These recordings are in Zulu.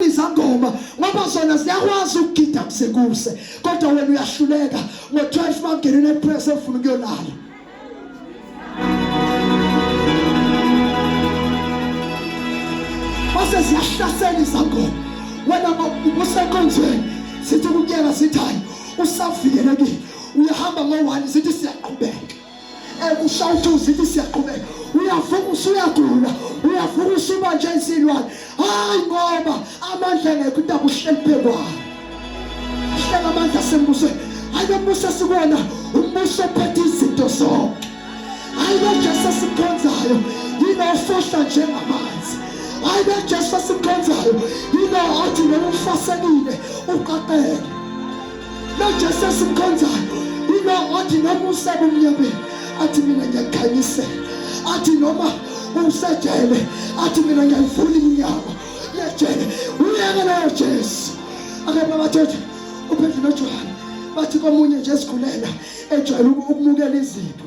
izangoma ngoba zona ziyakwazi ukugida kusekuse kodwa wena uyahluleka ngo-12 mangena unepress efuna ukuyolala mase ziyahlasela izangoma wena ubusenkonzweni sithi ukuyela sithayo usavikelekile uyahamba ngo-one sithi siyaqhubeka ekushawuthi uzithi siyaqhubeka uyavuka usuyagula uyavuka usuba nje isilwane hayi ngoba amandla engekho intaba uhleli phekwayo uhleli amandla asembusweni hayi lo mbuso esikwona umbuso ophethe izinto zonke hayi lo jesu esikhonzayo yilo ofohla njengamanzi hayi lo jesu esikhonzayo yilo othi noma ufasekile uqaqeke lojesu esimkhonzayo ilo othi noma usebumnyameni athi mina ngiyakhanyisela athi noma usejele athi mina ngiyayivula iminyango yejele uyeke nayo jesu akepha bathethe uphendle nojohane bathi komunye nje esigulela ejwayele ukumukela izipho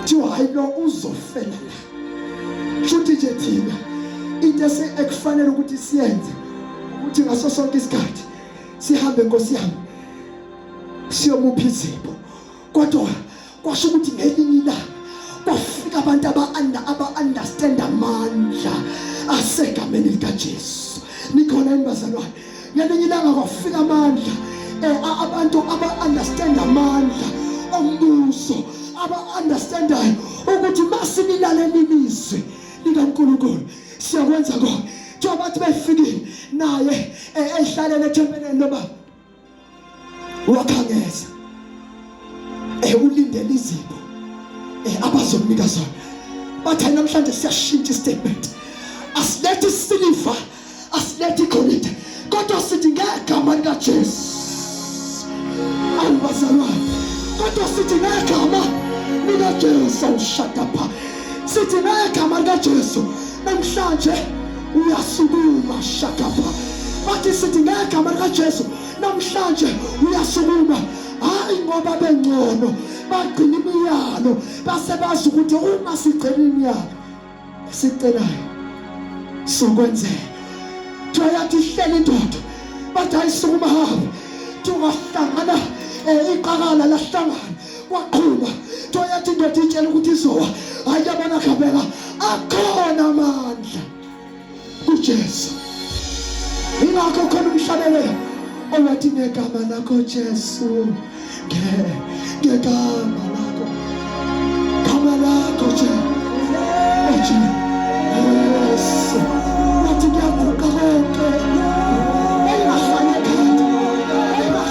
kuthiwa hayi lo uzofela la shuthi nje thina into ekufanele ukuthi siyenze ukuthi ngaso sonke isikhathi sihambe nkosi yami siyomupha izipho kodwa kwasho ukuthi ngelinye ilanga kwafika abantu aba-anda aba-understand amandla asegameni likajesu nikhona yini bazalwane ngelinye ilanga kwafika amandla eh, abantu aba-understand amandla ombuso aba-understandayo ukuthi masinilaleli lizwi likankulunkulu siyakwenza kona njengoba bathi befikile naye eh, ehlalele ethempeleni lobaba wakhangeza ewulindela eh, izipho eh, abazomnika zona bathe namhlanje siyashintsha istatement asilethi siliva asilethi igolide kodwa sithi ngegama likaJesu awubazalwane kodwa sithi ngegama likaJesu ushada pha sithi ngegama likaJesu namhlanje uyasukuma shakapa bathi sithi ngegama likaJesu namhlanje uyasukuma hayi ngoba bengcono bagcina imiyalo base bazi ukuthi uma sigcina imiyalo sicelayo sokwenzeka thoyathi ihleli indoda bathi ayisukuma hamba tungahlangana eh, iqakala lahlangana kwaqhuba nto yathi indoda itshela ukuthi izowa hayi yabona khabeka akhona amandla kujesu ingakho khona umhlabelelo owathi ngegama lakho jesu ngegama lakho gama lakho jesu wathi kuyaguqa konke